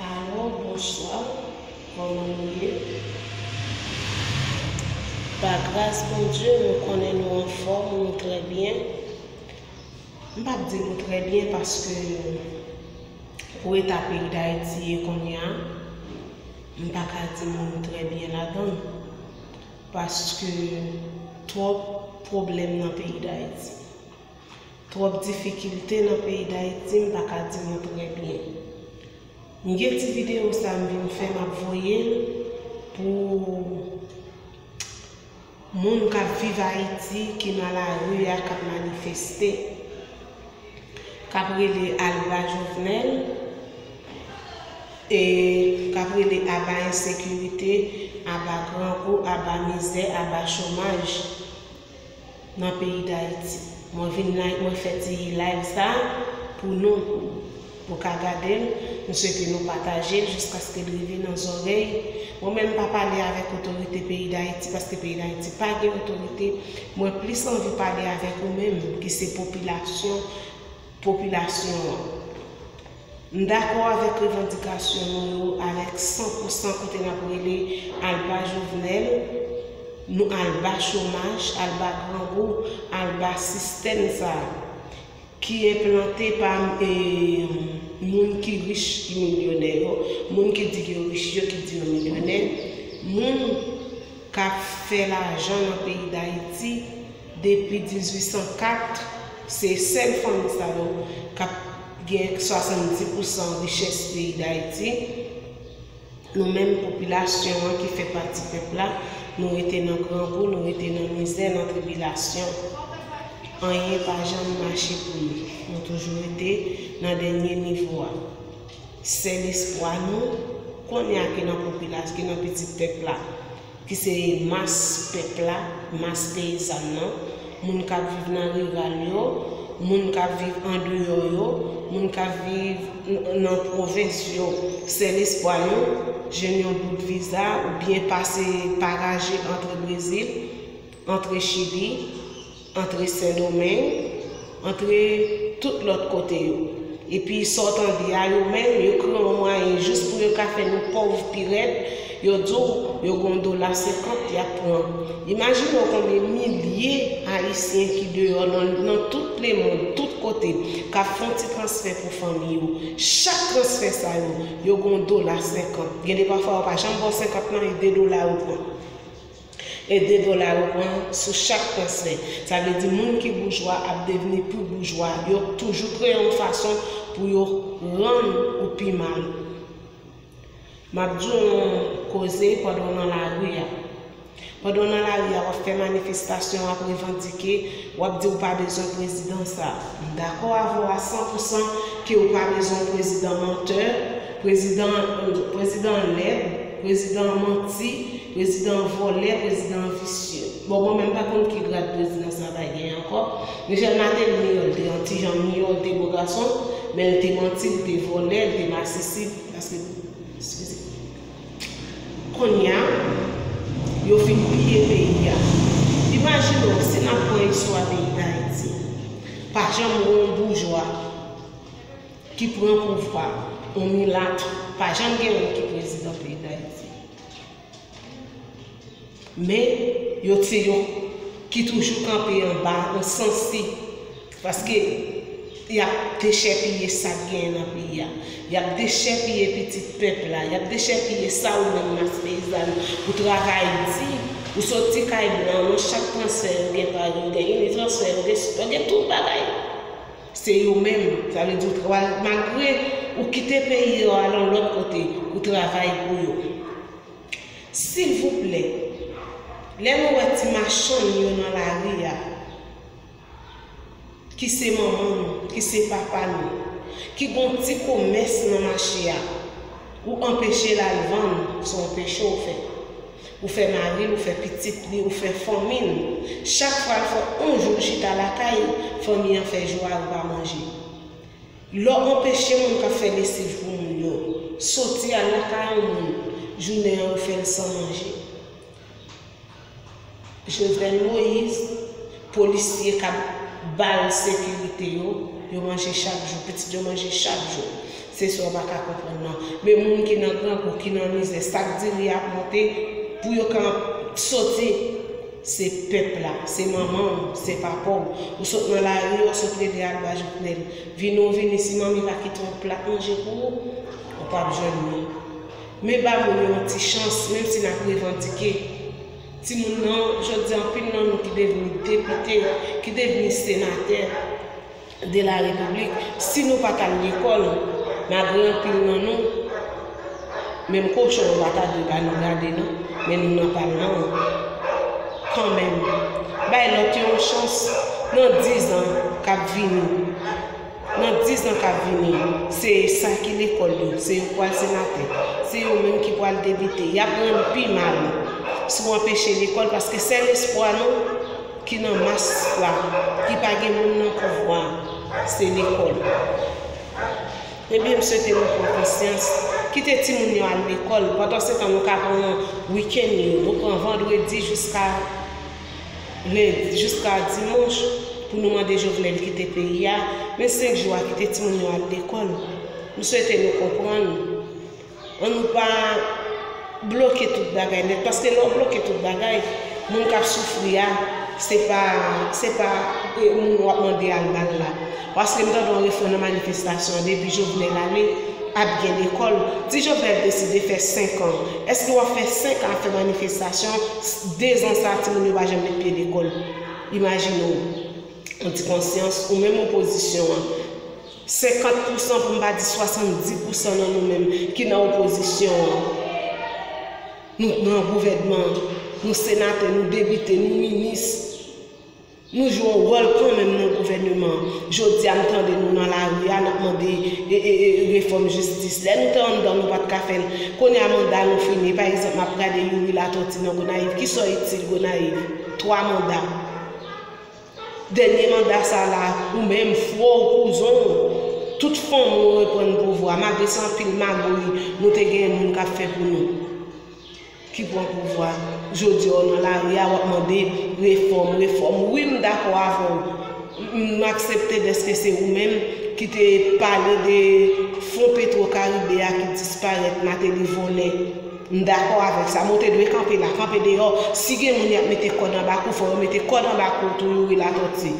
Alo bonswa kòman nou ye pa gras Bondye nou konnen nou anfòm nou trè byen m pap di nou trè byen paske pou eta peyi Dayiti ye kounye a m paka di nou nou trè byen ladann. Paske twòp pwoblèm nan peyi Dayiti. Twòp difikilte nan peyi Dayiti m pa ka di nou trè byen. M gen ti videyo sa m vin fè m ap voye l pou moun k ap viv Ayiti ki nan lari a k ap manifeste. kap rele alba jovenel e kap rele aba ensekirite aba grangou aba mizè aba chomaj nan peyi dayiti mwen vin mwen fè ti live sa pou nou Nou ka gadel, m swete nou patajel jiskaske l rive nan zòrèy Mwen menm m pa pale avèk otorite peyi dayiti paske peyi dayiti pa gen otorite, mwen plis anvi pale avèk ou menm ki se popilasyon popilasyon an. M dakò avèk revandikasyon nou yo avèk san pou san kote nap rele al ba Jovenel, nou al ba chomaj, al ba grangou, al ba sistèm sa. ki enplante pa moun ki rich ki milyonè yo, moun ki di yo rich yo ki di yo milyonè, moun k ap fè lajan nan peyi Dayiti depi 1804, se sèl fanmi sa yo k ap gen 70 pousan richès peyi Dayiti. Nou menm popilasyon an ki fè pati pèp la, nou rete nan grangou, nou rete nan mizè, nan tribilasyon. Anyen pa janm mache pou nou. Nou toujou rete nan dènye nivo a. Sèl espwa nou, konya ki nan popilas, ki nan pitit pèp la, ki se mas pèp la, mas peyizàn nan, moun k ap viv nan riral yo, moun k ap viv andeyò yo, moun k ap viv nan pwovens yo, sèl espwa yo, jwenn yon bout viza oubyen pase pa raje antre Brezil, antre Chili, Antre sendomeng, antre tout lòt kote yo. Epi sa w tande a yo menm yo kreye yon mwayen jis pou yo ka fè nou pòv pirèd, yo di w yo gen yon dola senkant y ap pran. Imajine w konbyen milye ayisyen ki deyò nan tout lemond, tout kote, k ap fè yon ti transfè pou fanmi yo. Chak transfè sa yo, yo gen yon dola senkant. Gen de pafwa yo pa janm ba w senkant lan e de dola yo pran. E 2 dola yo pran sou chak transfè. Sa vle di moun ki boujwa ap devni pi boujwa. Yo toujou kreye yon fason pou yo rann ou pi mal. M ap di w yon koze pandan w nan lari a. Pandan w nan lari a, w ap fè manifestasyon, w ap revandike, w ap di w pa bezwen prezidan sa a. M dakò avè w a san pou san ke w pa bezwen yon prezidan mantè, prezidan an lèd, prezidan an manti, Prezidan an vòlè prezidan an visye. Bon mwen menm pa konn ki grad prezidan sa bay genyen ankò. Michel Martelly miyò l te yon ti jan miyò l te bo gason men l te manti l te vòlè l te masisi paske eskize konnya yo fin piye peyi a imajine w si n ap pran istwa peyi Dayiti pa janm gen yon boujwa ki pran pouvwa yon milat pa janm gen yon ki prezidan peyi Dayiti. Men, yo se yon ki toujou kanpe anba yon sansi. Paske, y ap dechèpiye sa k genyen nan peyi a. Y ap dechèpiye pitit pèp la. Y ap dechèpiye sa ou menm mas peyizàn ou travay di. Ou soti kay blan, nan chak transfè yo gen pa yo, gen initransfè, yo gen tout bagay. Se yo menm, sa vle di ou tra, malgre ou kite peyi a ou al yon lòt kote, ou travay pou yo. Silvouplè, lè nou wè ti machann yo nan lari a, ki se manman nou, ki se papa nou, ki gen yon ti komès nan mache a, ou anpeche l al vann, se yon peche ou fè. Ou fè mari l, ou fè pitit li, ou fè fanmi l. Chak fwa l fè on jou l chita lakay l, fanmi an fè jou a yo pa manje. Lè w anpeche moun k ap fè lesiv pou moun yo soti al lakay on moun, jounen an ou fè l san manje. Jovenel Moise, polisye kap bal sekirite yo, yo manje chak jou, pitit yo manje chak jou. Se sa w pa ka konprann nan. Men moun ki nan grangou, ki nan mizè, sak di ri a ap monte, pou yo ka soti, se pèp la, se manman w, se papa w. Ou sot nan lari a, w sot rele aba Jovenel. Vini w vini, si manmi pa kite yon plat manje pou ou, ou pap jwenn li. Men ba moun yo yon ti chans, menm si nap revandike. Timoun nan, jodi a anpil nan nou ki devni depite, ki devni senatè de la repiblik, si nou pa t al lekòl, malgre anpil nan nou, menm kochon yo pa ta dwe ba nou gade non, men nou nan palman an, kanmenm, bay lòt yo yon chans, nan dizan k ap vini. Nan dizan k ap vini yo, se sa ki lekòl yo, se yo k pral senatè, se yo menm ki pral depite, y ap rann pi mal sou anpeche lekòl paske sèl espwa nou ki nan mas la, ki pa gen moun nan pouvwa a, se lekòl. Ebyen m swete nou pran konsyans, kite timoun yo al lekòl, pandansetan nou ka pran wikèn yo, nou pran vandredi jiska lendi jiska dimanch pou nou mande Jovenel kite peyi a, men 5 jou a kite timoun yo al lekòl. M swete nou konprann. An nou pa bloke tout bagay nèt paske lè w bloke tout bagay, moun k ap soufri a se pa se pa moun w ap mande al ba l la. Paske m tande yon refren nan manifestasyon an depi Jovenel ale ap gen lekòl. Si Jovenel deside fè 5 an, èske w ap fè 5 an ap fè manifestasyon, 2 zan sa timoun yo pa janm met pye lekòl? Imajine w, ou di konsyans ou menm opozisyon an, 50 pousan pou m pa di 70 pousan nan nou menm ki nan opozisyon an, nou nan gouvènman, nou senatè, nou depite, nou minis, Nou jwe yon wòl kanmenm nan gouvèneman an. Jodi a m tande nou nan lari a, n ap mande refòm jistis. Lè nou te anndan nou pa t ka fè l. Kounye a manda nou fini. Pa egzanp m ap gade Youri Latòti nan Gonayiv. Ki sa w itil Gonayiv? Twa manda. Dènye manda sa la, ou menm, fwè w, kouzon w, tout fanmi w reprann pouvwa. Malgre se anpil magoy nou te genyen moun ka fè pou nou. ki pwan pouvwa jodi a w nan lari a wap mande refòm refòm wi m dakò avè w m aksepte dèske se ou menm ki te pale de fon petro karibe a ki disparèt mateli vòlè m dakò avèk sa men w te dwe kanpe la kanpe deyò si gen moun yap mete kòd anba kou fò yo mete kòd anba kou tou youri latòti.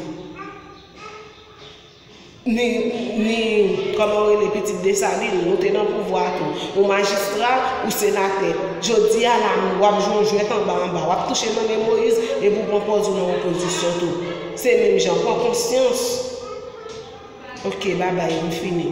Ni, ni, kòman w rele, pitit Desalin, nou te nan pouvwa tou. Ou majistra, ou senatè. Jodi a la, w ap jwe yon jwèt anba anba. W ap touche nan men Moyiz, epi w pran pòz ou nan opozisyon tou. Se menm jan. Pran konsyans. Ok, babay, m fini.